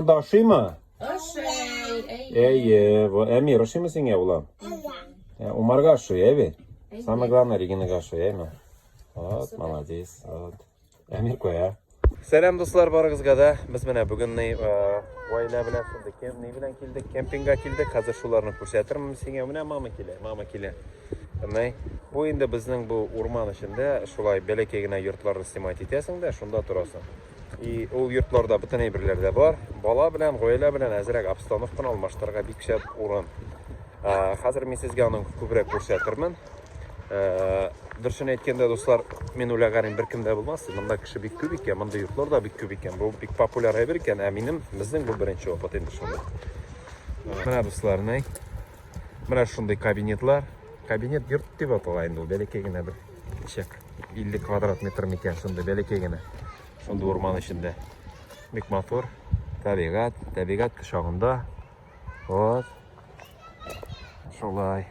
Анда ашыймы? Ашый. Әйе. Во, Әмир, ашыймы сиңа, улам? Ә, Умарга ашый, ә бит? Самое главное, Регинага ашый, әйме? Вот, молодец. Вот. Әмир куя. Сәлам дуслар барыгызга да. Без менә бүген ни гаилә белән шундый кем ни белән килдек, кемпингга килдек. Хәзер шуларны күрсәтермен сиңа. Менә мама килә, мама килә. Менә бу инде безнең бу урман эчендә шулай бәләкәй генә йортларны снимать итәсең дә, шунда торасың. И ул йортларда бөтен әйберләр дә бар. Бала белән, гаилә белән әзрәк обстановканы алмаштырырга бик шәп урын. Ә, хәзер мин сезгә аның күбрәк күрсәтермен. Ә, дөресен әйткәндә, дуслар, мин уйлаганым беркем дә булмас. Монда кеше бик күп икән, монда йортлар да бик күп икән. Бу бик популяр әйбер икән, ә минем безнең бу беренче опыт инде шуны. Менә дуслар, нәй. Менә шундый кабинетлар. Кабинет йорт дип атала инде ул, бәләкәй генә бер Чек. 50 квадрат метр микән, шундый бәләкәй генә. Шундый урман эчендә. Бик матур. Табигат, табигат кочагында. Вот. Шулай.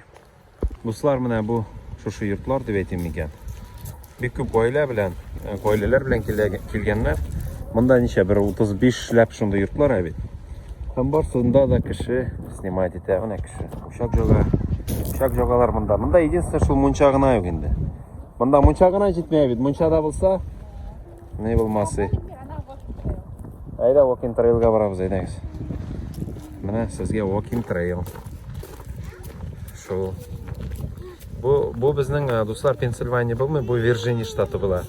Дуслар, менә бу шушы йортлар дип әйтим микән. Бик күп гаилә белән, э, гаиләләр белән килгәннәр. Монда ничә бер 35 ләп шундый йортлар ә бит. Һәм барсында да кеше снимать итә, менә кеше. Пычак жога. Пычак жогалар монда. Монда единственное, шул мунча гына юк инде. Монда мунча гына җитмәй бит. Мунчада булса, не булмасы. Әйдә, walking trail'га барабыз, әйдәгез. Менә сезгә walking trail. Шул. Бу, бу безнең э, дуслар Пенсильвания булмый, бу Вирджиния штаты була.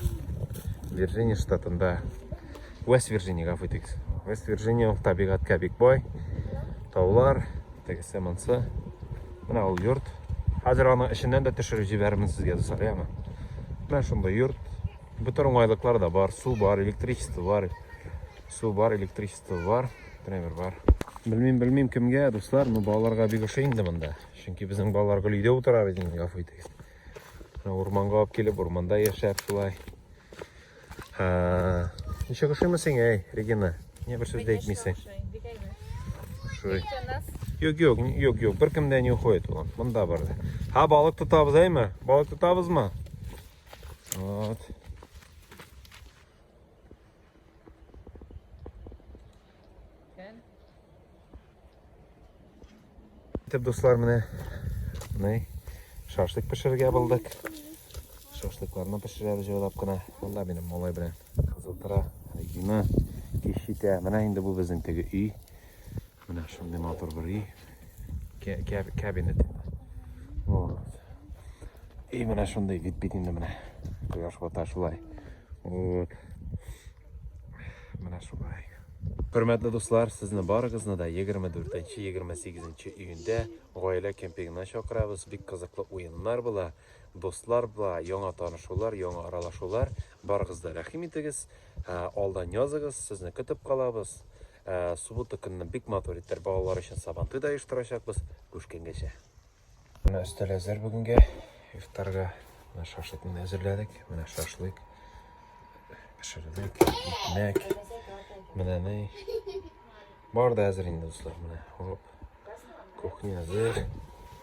Вирджиния штатында. Вест Вирджиния, гафу итегез. Вест Вирджиния табигатькә бик бай. Таулар, Тегесе монсы. Менә ул йорт. Хәзер аның эченнән дә төшереп җибәрермен сезгә, дуслар, яме. Менә шундый йорт. Бөтен уңайлыклар да бар. Су бар, электричество бар. Су бар, электричество бар. Тренер бар. Белмим, белмим кемгә, дуслар, но балаларга бик ошый инде монда. Чөнки безнең балалар гел өйдә утыра бит инде, гафу итегез. Урманга алып килеп, урманда яшәп шулай. Ничек ошыймы сиңа, әй, Регина? Не бер сүз дә әйтмисең. Ошый. Юк, юк, юк, юк, бер кемдә не уходит ул. Монда бар. Ха, балык тотабыз, әйме? Балык тотабызмы? Вот. Итеп, дуслар, менә менә шашлык пешерергә булдык. Шашлыкларны пешерәбез җайлап кына. Монда минем малай белән кызыл тора, Регина кеш итә. Менә инде бу безнең теге өй. Менә шундый матур бер өй. Кабинет. Вот. И менә шундый вид бит инде менә. Кояш бата шулай. Вот. Менә шулай. Хөрмәтле дуслар, сезне барыгызны да 24-28 июньдә гаилә кемпингына чакырабыз. Бик кызыклы уеннар була, дуслар була, яңа танышулар, яңа аралашулар. Барыгыз да рәхим итегез, ә, алдан языгыз, сезне көтеп калабыз. Ә, Суббота көнне бик матур итеп балалар өчен сабантуй да оештырачакбыз. Күшкенгәчә. Менә өстәл әзер бүгенгә. Ифтарга менә шашлыкны әзерләдек. Менә шашлык пешердек, икмәк. Менә ни. Бар да әзер инде, дуслар. Менә, хоп. Кухня әзер.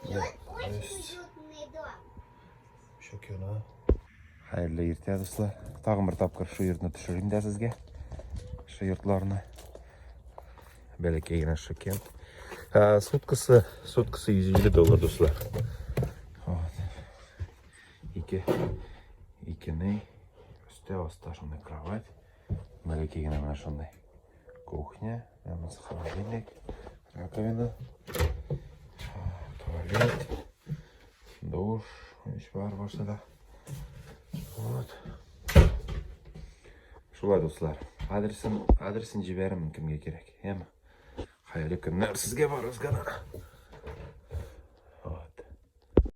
Менә, Шөкерна. Хәерле иртә, дуслар. Тагын бер тапкыр шу йортны төшерим дә сезгә. Шу йортларны. Бәләкәй генә шөкер. Ә, суткасы, суткасы 150 доллар, дуслар. Вот. Ике, икене, өстә аста шундый кровать. Бәләкәй генә менә шундый. Кухня, намаз холодильник, раковина, туалет. Душ, еш бар барса да. Вот. Шулай дуслар. Адресын, адресын җибәрәмен кемгә кирәк. Яме. Хәерле көннәр сезгә барыгызга да.